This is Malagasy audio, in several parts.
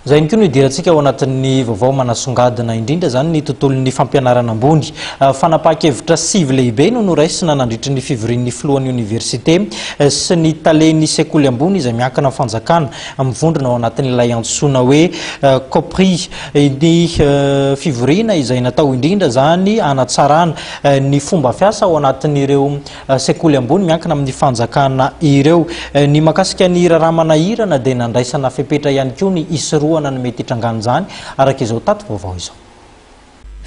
Izay ihany koa no hidirantsika ao anatin'ny vaovao manasongadina indrindra izany ny tontolon'ny fampianarana ambony. Ah, fanapahan-kevitra sivy lehibe no noraisina nandritry ny fivorian'ny filohan'ny oniversite eh, sy ny talen'ny sekoly ambony izay miankina amin'ny fanjakana mivondrona ao anatin'ilay antsoina hoe eh, COPRI. Ny eh, fivoriana izay natao indrindra izany hanatsarana ny fomba fiasa ao anatin'ireo sekoly ambony miankina amin'ny fanjakana ireo. Ny mahakasika ny raharaha manahirana dia nandraisana fepetra ihany koa ny hisorohana ny mety hitrangan'izany, araka izao tato vaovao izao.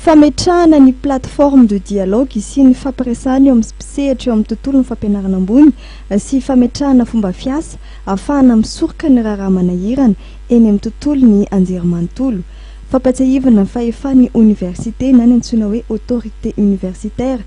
Fametrahana ny plateforme de dialogue sy ny fampiresahana eo amin'ny mpisehatra eo amin'ny tontolon'ny fampianarana ambony sy fametrahana fomba fiasa ahafahana misoroka ny raharaha manahirana eny amin'ny tontolon'ny anjerimanontolo. Fampatsiahivina fa efa ny oniversite na ny antsoina hoe autorité universitaire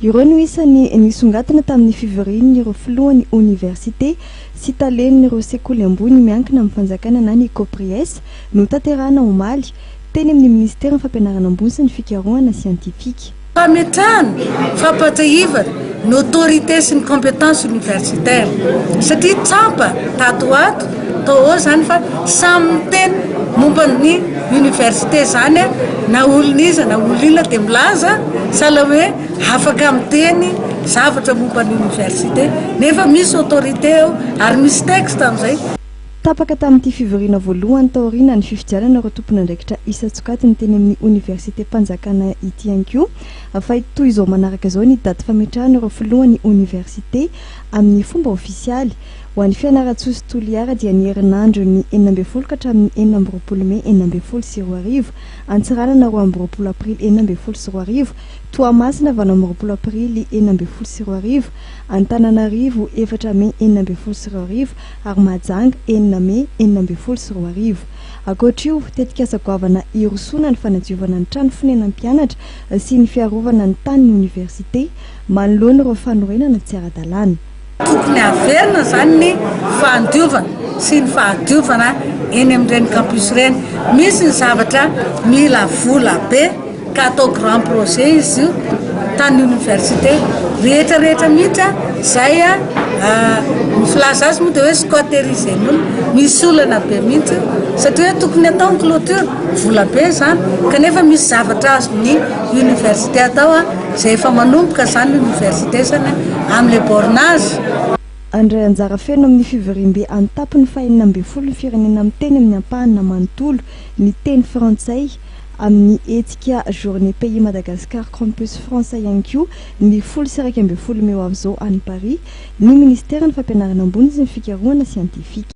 Ireo no isan'ny nisongadina tamin'ny fivorian'ireo filohan'ny oniversite sy talen'ireo sekoly ambony miankina amin'ny fanjakana na ny Copries, notanterahina omaly, teny amin'ny minisiteran'ny Fampianarana ambony sy ny fikarohana siantifika. Fametrahana, fampahatsiahivana ny autorité sy ny compétence universitaire satria tsampa tato ho ato Atao ahoana izany fa samy miteny momba ny université izany a, na olon'iza na olon'inona dia milaza sahala hoe afaka miteny zavatra momba ny université nefa misy autorité ao ary misy texte amin'izay. Tapaka tamin'ity fivoriana voalohany taoriana ny fifidianana ireo tompon'andraikitra isan-tsokajiny teny amin'ny Oniversitem-panjakana ity ihany koa fa toy izao manaraka izao ny daty fametrahana ireo filohan'ny oniversite amin'ny fomba ofisialy Ho an'i Fianarantsoa sy Toliara dia ny herinandron'ny enina ambin'ny folo ka hatramin'ny enina amby roapolo mey enina ambin'ny folo sy roa arivo, Antsiranana roa amby roapolo aprily enina ambin'ny folo sy roa arivo, Toamasina valo amby roapolo aprily enina ambin'ny folo sy roa arivo, Antananarivo efatra mey enina ambin'ny folo sy roa arivo ary Mahajanga enina mey enina ambin'ny folo sy roa arivo. Ankoatra io, tetikasa goavana hirosoana ny fanadiovana ny trano fonenan'ny mpianatra sy ny fiarovana ny tanin'ny oniversite manoloana ireo fanorenana tsy ara-dalàna. Tokony haverina izany ny fandiovana sy ny fahadiovana eny amin'ireny campus ireny. Misy ny zavatra mila vola be ka atao grand projet izy io tany université rehetra rehetra mihitsy izay ny filaza azy moa dia hoe squatterizen'olona. Misy olana be mihitsy satria hoe tokony atao ny clôture, vola be izany kanefa misy zavatra azon'ny université atao. Izay efa manomboka izany ny oniversitesany amin'ny le bornage. Handray anjara feno amin'ny fivoriambe an-tampony fahenina ambin'ny folo ny firenena miteny amin'ny ampahana manontolo ny teny frantsay, amin'ny hetsika Journée Pays Madagascar Campus France ihany koa, ny folo sy iraika ambin'ny folo mey ho avy izao any Paris, ny Ministeran'ny Fampianarana Ambony sy ny Fikarohana Siantifika.